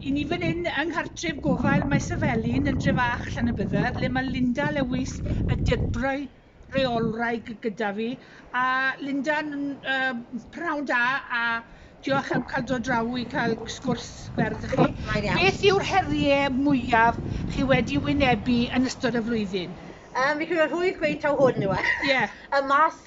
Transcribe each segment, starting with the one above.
I ni fan hyn yng nghartref gofal Maes y Felin yn Drefach Llanybydder lle mae Linda Lewis y Debrau Rheolwraig gyda fi a Linda'n uh, prawn da a diolch am cael dod draw i cael sgwrs ferdd chi. Beth yw'r heriau mwyaf chi wedi wynebu yn ystod y flwyddyn? Um, fi credu rhwydd gweud taw hwn yw e. Ie. Yeah. y mas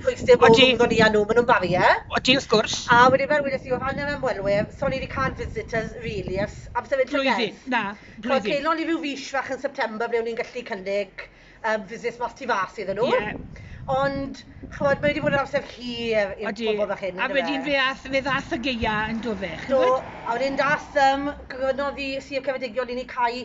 pwynt dim ond nhw o'n i a nhw, maen nhw'n barrier. Odi wrth gwrs. A wedyn fel wedes i o ran yr ymwelwyr, so o'n i wedi cân visitors rili ers amser hyn llynedd. Blwyddyn, na, blwyddyn. Chimod, celon ni ryw fis fach yn September ble o'n ni'n gallu cynnig yym visits mas tu fas iddyn nhw. Ie. Ond, chimod, mae wedi bod yn amser hir i'r pobl fach hyn, yndyfe? Odi, a wedyn fe ath, fe ddath y gaeaf yn do fe, chimod? Do, a wedyn dath yym gofynnodd i Sir Ceredigion i ni cau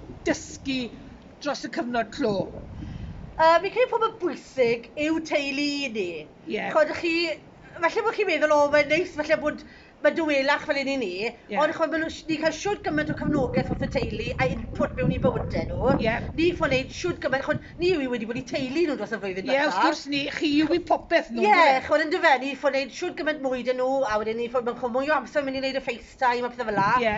dysgu dros y cyfnod clo. Yy fi'n credu pobol bwysig yw teulu i ni. Ie. Ch'od chi falle bo' chi'n meddwl o mae'n neis falle bod ma' dawelach fel un i ni. Ie. Ond ch'od ma' nw sh- ni'n ca'l shwd gyment o cefnogeth wrth y teulu a input mewn i bywyde nw. Ie. Ni ffo neud shwd gyment ch'od ni yw i wedi bod i teulu nw dros y flwyddyn dwetha. Ie wrth gwrs ni chi yw i popeth nw on'd yfe? Ie ch'od yndyfe ni ffo neud shwd gyment mwy 'da nw a wedyn ni ffo ma' ch'o' mwy o amser myn' i neud y FaceTime a pethe fel 'a. Ie.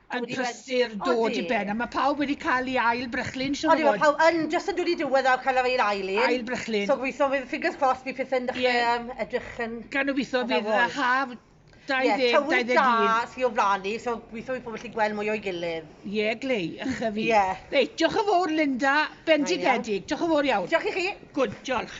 yn prysur dod i ben a ma' pawb wedi ca'l i ail brychlyn siŵr o fod. Odi ma' pawb yn jyst yn dod i diwedd a ca'l yr ail ail un. Ail brychlyn. So gobitho fydd fingers crossed bydd pethe'n dechre yym edrych yn... Gan obitho fydd y haf 2021. sy o flan ni so gobitho bydd pobol gallu gweld mwy o'i gilydd. Ie glei ychydig. Ie. Reit diolch yn fowr Linda. Bendigedig. Diolch yn fowr iawn. Diolch i chi. Good diolch.